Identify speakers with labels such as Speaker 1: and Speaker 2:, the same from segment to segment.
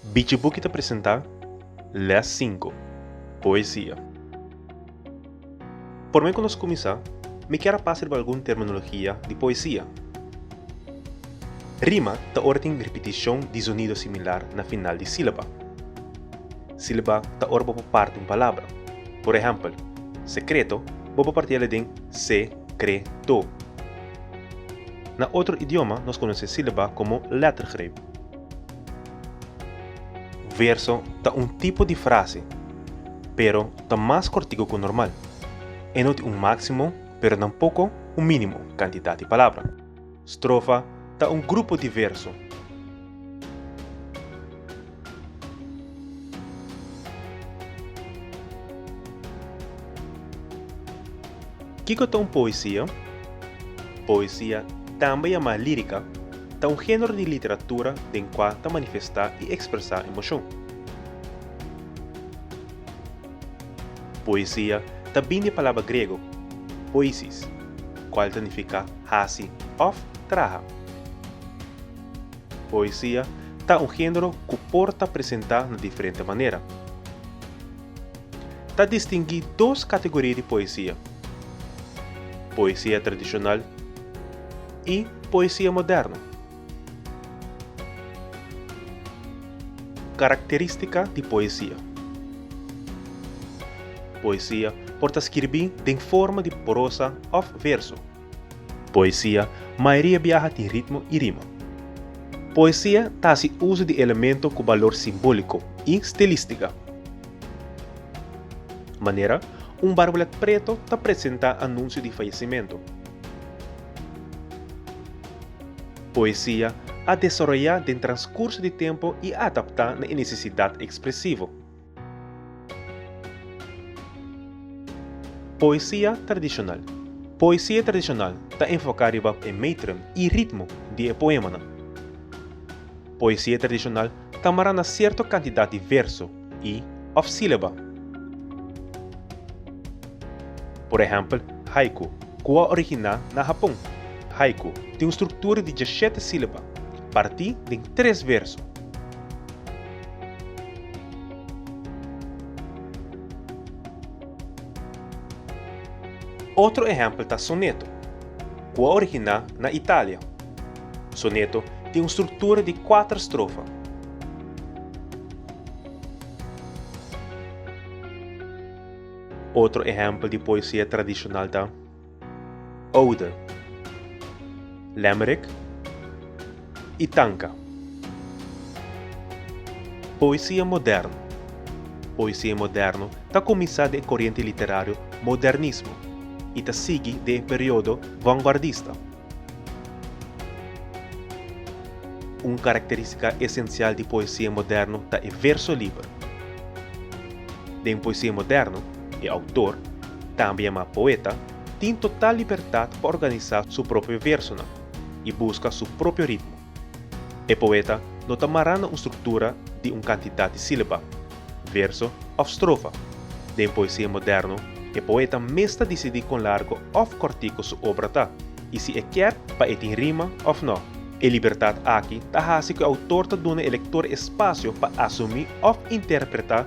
Speaker 1: Bichibuki ta presentá lès sinku, Poesia. Promé ku nos kuminsá, mi kier a pasa riba algun terminologia di poesia. Rima ta ora tin ripitishon di zonido similar na final di sílaba. Sílaba ta ora bo por parti un palabra. Por ehèmpel, sekreto bo por parti'é den se-kre-to. Na otro idioma nos konosé sílaba komo lettergreep. Verso ta un tipo di frase, pero ta mas kortiku ku normal. E no tin un máksimo, pero tampoko un mínimo kantidat di palabra. Strofa ta un grupo di verso. Kiko ta un poesia? Poesia, tambe yamá lírica, ta un género di literatura den kua ta manifestá i ekspresá emoshon. Poesia ta bini di palabra grego poiesis, kual ta nifiká hasi òf traha. Poesia ta un género ku por ta presentá na diferente manera. Ta distinguí dos kategoria di poesia, poesia tradishonal i poesia moderno. Karakterístika di poesia. Poesia por ta skirbí den forma di prosa òf verso. Poesia mayoria biaha tin ritmo i rima. Poesia ta hasi uso di elemento ku balor simbóliko i stilístika. Manera un barbolet preto ta presentá anunsio di fayesimentu. Poesia a desaroyá den transkurso di tempu i a adaptá na e nesesidat ekspresivo. Poesia tradishonal Poesia tradishonal ta enfoká riba e métrum i ritmo di e poémanan. Poesia tradishonal ta mará na sierto kantidat di verso i, òf sílaba. Por ehèmpel, haiku, ku a originá na Hapon. Haiku tin un struktura di djashete sílaba, partí den tres verso. Otro ehèmpel ta soneto, ku a originá na Italia. Soneto tin un struktura di kuater strofa. Otro ehèmpel di poesia tradishonal ta. Oude, Limerick i Tanka. Poesia moderno Poesia moderno ta kuminsá den e koriente literario modernismo i ta sigui den e periodo vanguardista. Un karakterístika esensial di poesia moderno ta e verso liber. Den poesia moderno. E outor, tambe yamá poeta, tin total libertat pa organisá su propio versonan i buska su propio ritmo. E poeta no ta mará na un struktura di un kantidat di sílaba, verso òf strofa. Den poesia moderno, e poeta mes ta disidí kon largo òf kòrtiku su obra ta i si e kier pa e tin rima òf nò. E libertat aki ta hasi ku e outor ta duna e lektor e spasio pa asumí òf interpretá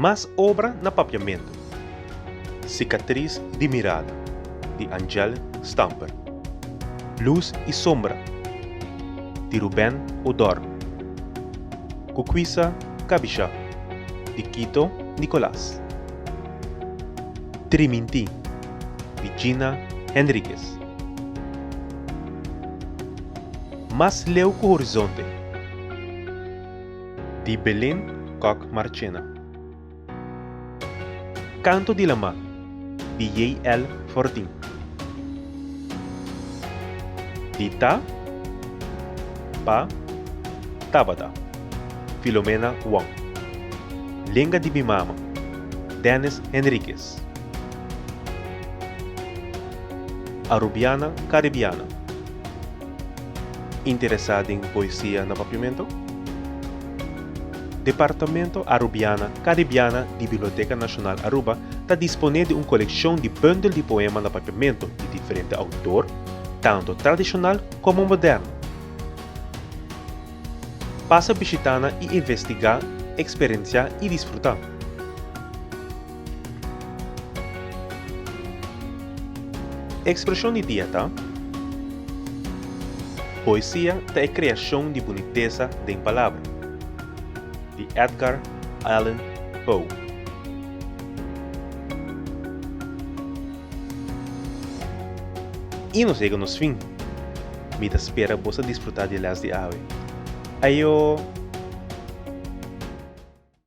Speaker 1: Mas obra na papiamentu. Sikatris di mirada, di Angèle Stamper. Lus i sombra, di Ruben Odorn. Kukwisa kabishá, di Kito Nicolas. Tri mintí. di Gina Henriquez. Mas leu ku horizonte, di Belén Kok Marchena. Canto di la mar, di JL. Fortin. Di Ta, Pa, Tabata, Filomena Wong. Lenga di mi mama, Dennis Henriquez. Ras. Arubiana Caribiana Interesá den poesia na Papiamento? Departamento Arubiana Caribiana di Biblioteka Nashonal Aruba ta disponé di un kolekshon di bundel di poema na Papiamento di diferente outor, tantu tradishonal komo moderno. Pasa bishitana i investigá, eksperensiá i disfrutá. Ekspreshon di dia ta, Poesia ta e kreashon di bunitesa den palabra, di Edgar Allan Poe. I nos yega nos fin. Mi ta spera bos a disfruta di e lès di awe. Ayo!